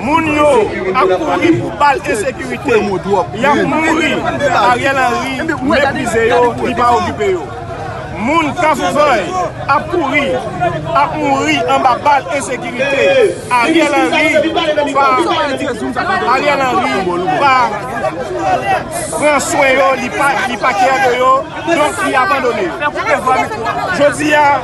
Moun yo ap kouri pou bal ensekirite. Yap mouri. Ariel Henry meprize yo, li pa okipe yo. Moun Kafoufèy ap kouri, ap mouri anba bal ensekirite. Ariel Henry pa Ariel Henry pa pran swen yo, li pa kè de yo, donk li abandone yo. Jodi a.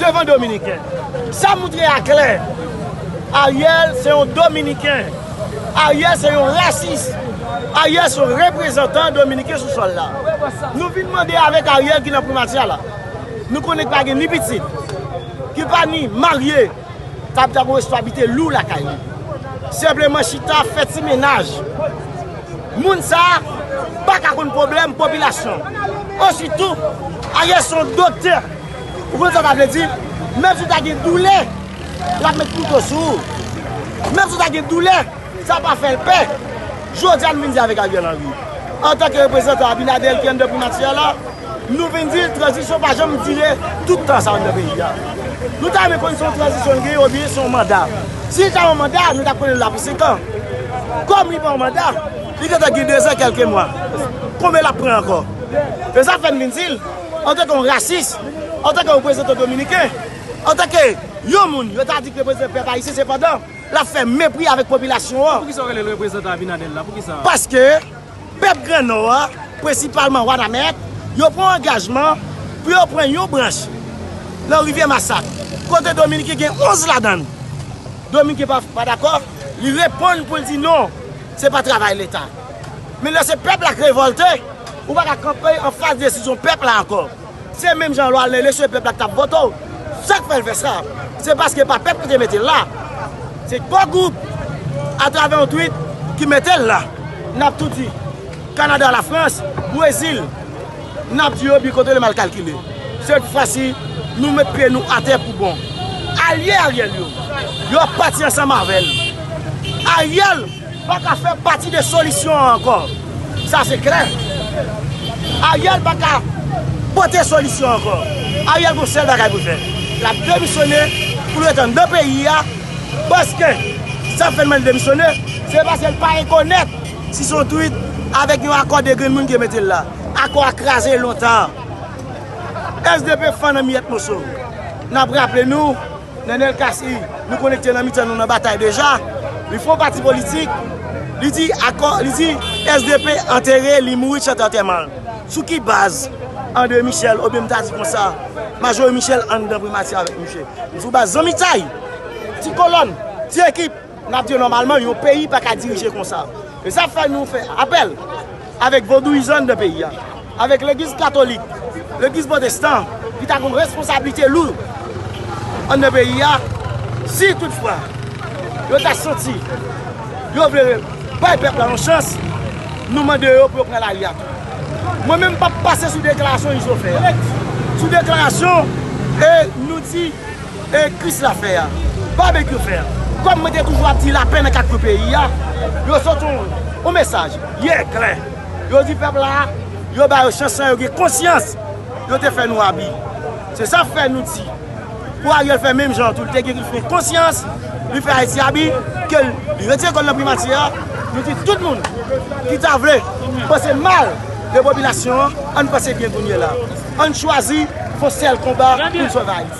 Devan dominiken. Sa moutre a klè. Ariel se yon dominiken. Ariel se yon rasis. Ariel se yon reprezantan dominiken sou sol la. Nou vin mande avek Ariel ki nan primati a la. Nou konnen ki pa gen ni pitit. Ki pa ni marye. Kap ta gwo responsabilite lou lakay li. Senpleman chita fè ti menaj. Moun sa pa ka konn problem popilasyon. Ositou Ariel se yon doktè. Ou konn sa sa vle di? Menm si w ta gen doulè, l ap met kouto sou ou. Menm si w ta gen doulè, sa pa fè l pè. Jodi a nou vin di avèk Ariel Henry, antanke reprezantan Abinader ki anndan primati a la, nou vin di tranzisyon pa janm dire tout tan sa anndan peyi a. Nou ta renmen konnen se yon tranzisyon li genyen oubyen se yon manda. Si li ta yon manda, nou ta konnen l la pou senkan. Kòm li pa yon manda, li gentan gen dezan kèlke mwa. Konbyen l ap pran ankò? E sa fè n vin di l. Antanke yon rasis, antanke yon prezidan dominiken, antanke yon moun yo ta di ki reprezante pèp ayisyen sepandan l ap fè mepri avèk popilasyon an. Poukisa w rele l reprezante Abinader la? Poukisa? Paske pèp gran nò a, prensipalman Wanament, yo pran angajman pou yo pran yon branch nan rivyè Masak kote dominiken gen 11 ladan l. Dominiken pa dakò, li reponn pou l di non, se pa travay leta. Men lè se pèp la k revòlte, ou pa ka kanpe anfas desizyon pèp la ankò. Se menm jan lè w al nan eleksyon e pèp la k t ap vote w. Sa k fè l fè sa? Se paske pa pèp ki te mete l la. Se gwo gwoup, atravè yon twit, ki mete l la. N ap tou di, Kanada, Lafrans, Brezil, n ap di yo bi kote yo mal kalkile. Sèt fwa si, nou met pye nou atè pou bon. Alye Ariel yo, yo pati ansanm avè l. Ariel! Pa ka fè pati de solisyon an ankò. Sa se klè. Ariel pa ka pote solisyon an ankò. Ariel gen yon sèl bagay pou l fè. L ap demisyone pou l ret anndan peyi a. Paske sa k fè l mande demisyone, se paske l pa rekonèt si se yon twit avèk yon akò de grenn moun ki te mete l la. Akò a kraze lontan. Sdp fann an miyèt moso. N ap raple nou, Nenel Cassy, nou konekte nan mitan nou nan batay deja. Li fon pati politik, li di akò, li di SDP antere, li mouri chante antèman l. Sou ki baz André Michel oubyen m ta di konsa Majorie Michel anndan primati avèk misye? Sou baz zanmitay, ti kolòn, ti ekip. N ap di yo nòmalman yon peyi pa ka dirije konsa. E sa fè nou fè apèl avèk vodouyizan nan peyi a, avèk legliz katolik, legliz pwotestan ki ta gon responsablite lou anndan peyi a, si tout fwa yo ta santi yo vle bay pèp la yon chans, nou mande yo pou yo pran lari a tou. Mwen menm m pa p pase sou deklarasyon Izo fè a, sou deklarasyon e nou di. E kris la fè a? Babekyou fè a? Kòm mwen te toujou ap di lapè nan 4 kwen peyi a, yo sot yon mesaj yè klè, yo di pèp la yo ba yo chans san yo gen konsyans yo te fè nou abi. Se sa fè nou di pou Ariel fè menm jan tou, li te gen konsyans li fè Ayiti abi ke li retire kò l nan primati a, nou di tout moun ki ta vle panse mal de popilasyon an, an n panse byen kounye la. An n chwazi yon sèl konba pou n sove Ayiti.